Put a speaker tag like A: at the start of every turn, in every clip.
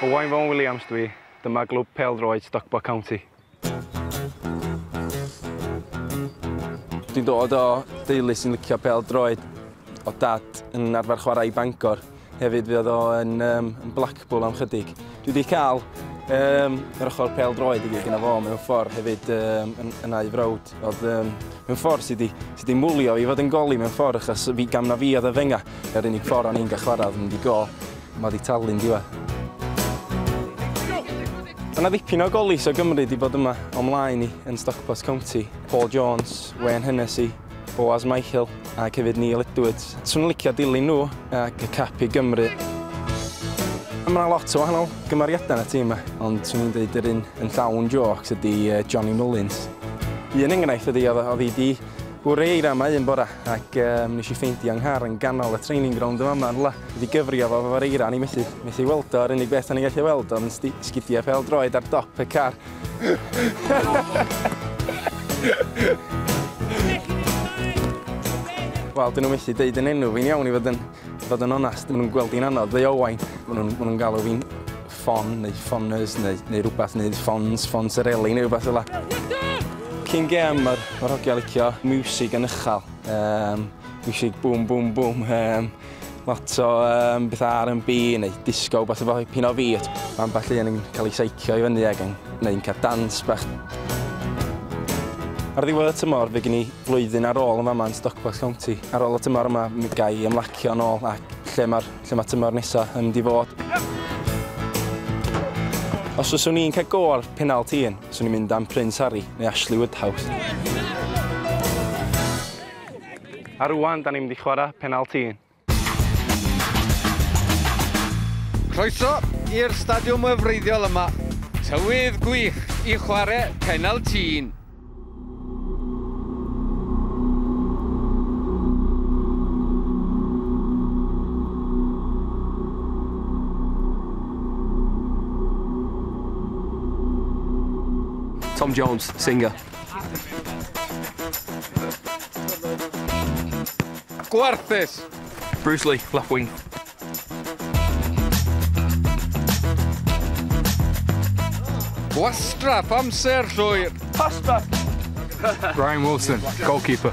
A: Owain Fôn Williams dwi, dyma glwb pêl-droed Stockport County. Dwi'n dod o deulu sy'n licio pêl-droed, o'dd dad yn arfer chwarae i Bangor. Hefyd fe oedd o yn um, Blackpool am chydig. Dwi wedi cael um, yr ochr pel droed i gyd gyda fo mewn ffordd hefyd um, yn, yn ei frawd. Oedd um, mewn ffordd sydd wedi mwlio i fod yn goli mewn ffordd achos fi gam na fi oedd y fenga. Yr unig ffordd o'n i'n gael chwarae oedd mynd i go. Mae wedi talu'n diwa. Mae yna ddipyn o golis o Gymru wedi bod yma o'm mlaen i yn Stockport County. Paul Jones, Wayne Hennessy, Boaz Michael ac hefyd Neil Edwards. Swn i'n licio dilyn nhw ac cap i Gymru. Mae yna lot o wahanol gymeriadau yn y tîm yma, ond swn i'n dweud yr un yn llawn jôcs ydy Johnny Mullins. Un enghraifft ydy oedd oedd hi di bwrw ei ramau un bora ac um, nes i ffeindio yng nghar yn ganol y training ground yma yma rhywle. Wedi gyfrio fo fo'r eira ni methu, methu weld o, yr unig beth o'n i'n gallu weld o'n sgidiau pel droed ar dop y car. Wel, dyn nhw methu deud yn enw fi'n iawn i fod yn, fod yn onast. Maen nhw'n gweld i'n anodd, dde Owain. Maen nhw'n nhw galw fi'n ffon neu ffonners neu, neu rhywbeth, neu ffons, ffons yr eli neu rhywbeth fel Cyn gem, mae'r ma hogia licio music yn uchel. Um, music boom, boom, boom. Um, Lot o um, bethau R&B neu disco, beth efo pin o fi. Mae ambell un yn cael ei seicio i fyny ac yn gwneud cael dans bach. Ar ddiwedd y tymor, fe gen i flwyddyn ar ôl yn fama yn Stockport County. Ar ôl y tymor yma, mi gai ymlacio yn ôl ac lle mae'r lle mae tymor nesaf yn mynd i fod. Os fyswn i'n cael go ar penal tîn, fyswn i'n mynd am Prince Harry neu Ashley Woodhouse. A rŵan, da ni'n mynd i chwarae penalti un.
B: Croeso i'r stadiwm y wreiddiol yma. Tywydd gwych i chwarae penalti un.
C: Tom Jones, singer.
B: Gwarthus! Bruce
C: Lee, left wing.
B: Gwastraff amser llwyr. Pass
A: back.
C: Ryan Wilson, goalkeeper.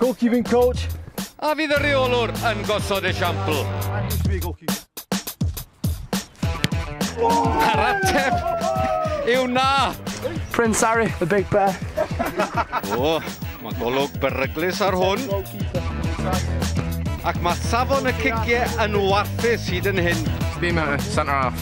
D: Goalkeeping coach. A fydd y
B: reolwr yn gosod esiampl. A'r ateb yw na. Prince Harry,
A: the big bear. o,
B: mae golwg beryglus ar hwn. Ac mae safon y cigiau yn warthus hyd yn hyn. Bima, centre
C: half.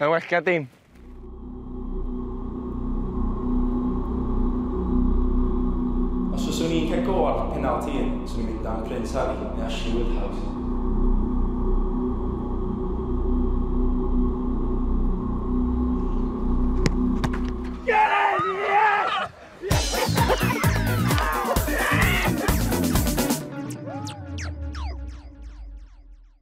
A: Mae'n well ga dim. Os fyswn i'n cael go ar penalt un, swn i'n mynd am Prince Harry neu Ashley Woodhouse.